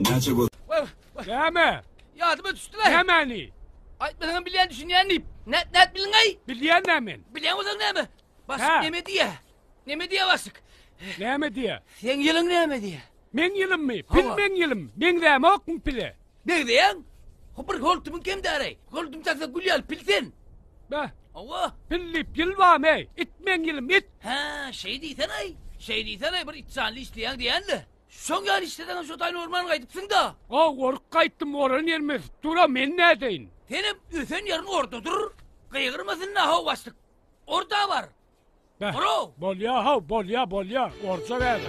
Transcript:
Näçe göz. Wah, wah. Näme? Ýadyma düşdüler. Nämäni? Aýtmasaňam bilýän düşünýän diýip. Nät nät bilňäý? Bilýän nämen? Bilýän bolsaň näme? Başyk Ha. näme diýýä? Näme diýýä başyk? Näme diýýä? Seň ýylyň näme diýýä? Meň ýylymmy? Pil Hawa. meň ýylym. Meňzämokmy pile? Degdeýäň? Ho bir holtumyň kemdäreý. Holdum taksa gül ýaly pil sen. Bä, Hawa. pil diýip ýyl barmy? It meň ýylym, it. Ha, şeý diýsen-aý. Şeý diýsen-aý bir itjanly işleýäň diýýän-le. Şoň ýaly işleseňem şo taýyn orman gaýdypsyň-da. A goryp gaýtdym oran ýerim ösüp dur-a men nädeýin. Senem ösen ýeriň orda dur. Gygyrmasyn nahaw başlyk. Orda bar. Beh. Orao. Bolýa-haw bolýa bolýa. Orja bäri.